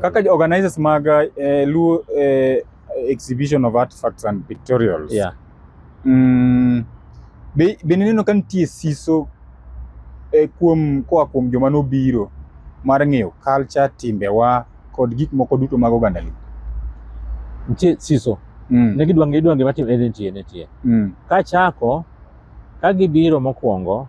Kaka organizers mag eh, Luo eh, exhibition of artifacts and pictorials. Yeah. Mm, be, be nineno ka nitie siso eh, kuom koa kuom joma nobiro mar ng'eyo culture, timbewa kod gik moko duto mag oganda Luo. Nitie siso. Mm. Ne gidwa ng'e gidwa ng'e matim ne nitie nitie. Mm. Kachako ka gibiro mokwongo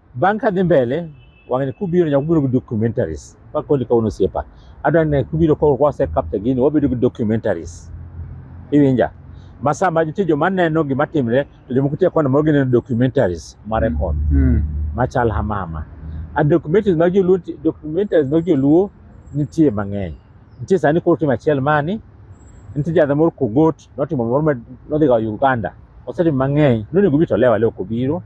bang' ka dhi mbele wang'ani kubiro nyaka ubiro gi documentaries pa koni kawuono osiepa adwa ne kubiro koro kwase kapta gini wabedo gi documentaries iwinja ma sama nitie joma neno gima timre to jomoko tie kona moro gineno documentaries ma record Mm. machal hamama a documentaries mag joluo nti- documentaries mag joluo nitie mang'eny nitie sani koro tim achiel mani nitie jadha moro kogot notimo gimoro ma nodhi ga Uganda osetimo mang'eny nonego obi to lewa leo kobiro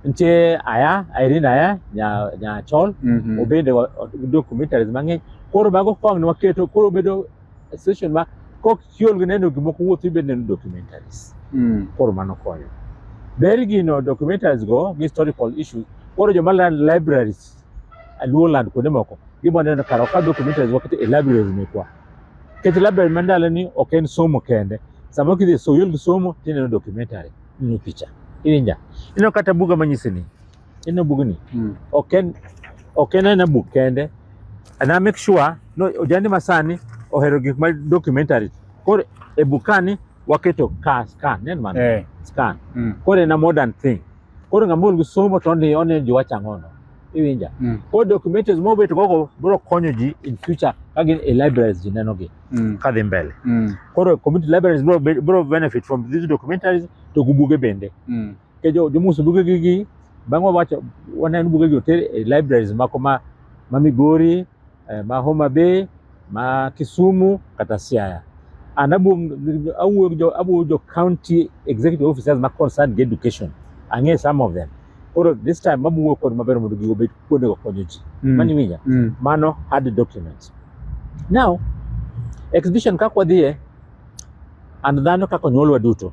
nitie aya Irene aya nya nya chol Mhm. obende wa- o- documentaries mang'eny koro mago kong ne waketo koro bedo session ma kok chiol gi neno gimoko wuoth ibed neno documentaries Mm. koro mano konyo ber gino documentaries go gi historical issues koro joma land libraries luo land kuonde moko giboneno kar ka documentaries waketo e libraries mekwa Kech labda mandala ni ok en somo kende. Sama kidhi so yul somo tineno documentary, ni picha. Iwinja. Ino kata buga manyisi ni. Ino bugni. Mm. Ok en ok en na buk kende. And I make sure no ojandi masani ohero gik ma documentary. Koro e bukani waketo ka scan, nen man. Eh. Scan. Mm. Koro en a modern thing. Koro ng'amol gi somo to ni onenjo wachang'ono. iwinja mm. ko documentaries mo beto koko bro konyo ji in future ka gin e libraries ji neno gi mm. ka dhi mbele mm. koro community libraries bro, bro benefit from these documentaries to gubuge bende mm. ke jo jo musu buge gi gi bang' wawacho waneno buge gi oter e libraries mako ma ma Migori eh, ma Homa Bay ma Kisumu kata Siaya and awuoyo awuoyo jo county executive officers ma concerned gi education ang'e some of them koro this time mabuwo kod maber mondo gigo bed kuondego konyo ji mm. mani winja mm. mano hard documents now exhibition kaka wadhiye and dhano kaka onyuolwa duto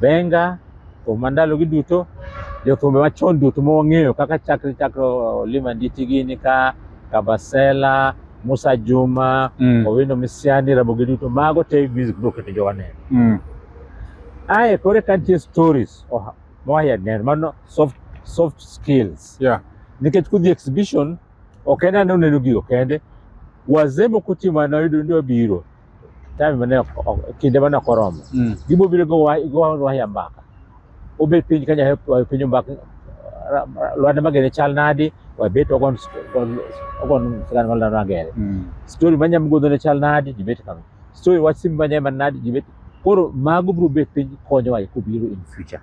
Benga, thum ma ndalogi duto, jothumbe machon duto ma wang'eyo kaka chakre chakre Olima Nditi gini ka Kabasela, Musa Juma, Mm. Owino Misiani, Ramogi duto mago te music biro keto jowa neno. Mm. Ae koro eka nitie stories oha- ma wahia neno mano soft, soft skills Yeah. nikech kudhi exhibition ok en ane uneno gigo kende wazee moko timo anayudo ni wabiro time mane ok- ok- kinde mane ok oromo Mm. gibiro biro go wa- go wa- waya mbaka obet piny ka nyasaye wayo piny mbaka ra- ra- lwanda magere chal nadi wabet wagon wagon- wagon sigana mar lwanda magere Mm. story ma nyamgodho ne chal nadi jibet kama story wach simba nyama nadi jibet koro mago biro bet piny konyowa e kobiro in future